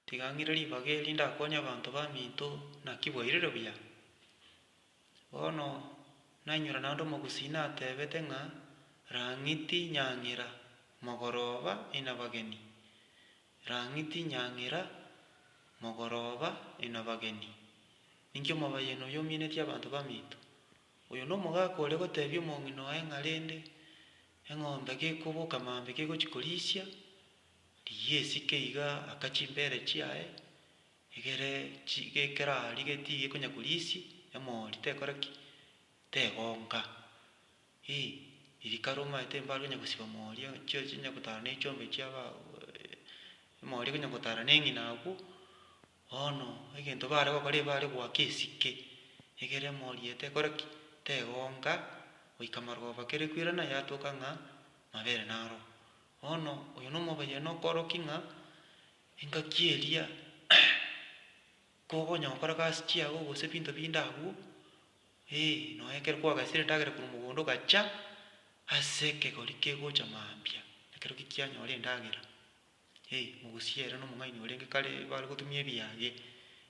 Tiga ng'ire ribaga eri ndakonye abanto baminto naki bwairire buya. Bono nainywera naende omogusii natebete ng'a, Rang'iti nyang'ira, mogoroba inabageni, rang'iti nyang'ira, mogoroba inabageni. Ninki omobayeno oyo ominetie abanto baminto? Oyo nomogaka ore gotebia omong'ina oye ng'a rende eng'ombe gekoboka maambia kegochia korisia, riyiesike iga aka chimbere chiaye egere chi gekera riga tigekonya korisia emori tekora ki tegonka ii eri kare omanyete mbare konya gosiba omori chio chinya gotara na echiombe chiaba emori ekonya gotara na eng'ina agwo. Bono, egento baare gokora ebare goaka esike egere emorieta ekore ki? Tegonka goika maroba kere kwirana yatoka ng'a mabere naro. Bono oyo nomobayani okoorokia ng'a engaki eria kogonya gokora gasi chiago gose ebinto binde agwo, ee nonya ekero kwagesire endagera korwa mogondo ogacha ase ekegori kegocha mambia ekero ki kianyora endagera. Hei, mogosie ere na omong'aini orenge kare bare gotumia ebiage.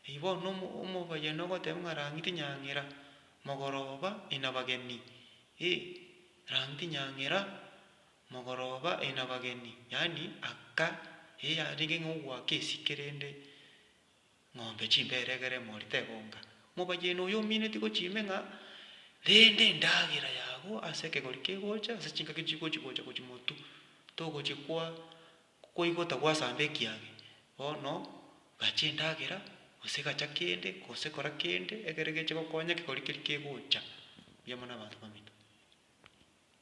Hei, bono omo, omobayani ogoteba ng'a rang'iti nyang'era, mogoroba ina bageni. Hei, rang'iti nyang'era, mogoroba ina bageni. Yaani, aka, eyarenge ng'a ogoaka esike rende. Ng'ombe chimbere egere emori tegonka. Mobayeine oyo omineti gochia ime ng'a rende endagera yagwo ase ekegori kegocha ase chingaki chigochi gocha gochia motu togochia kwa koigota gwasamba ekiage. Bono gacha endagera gose gacha kende gose kora kende egere geche gokonya ekegori keri kegocha. Mbuya mono abanto baminto.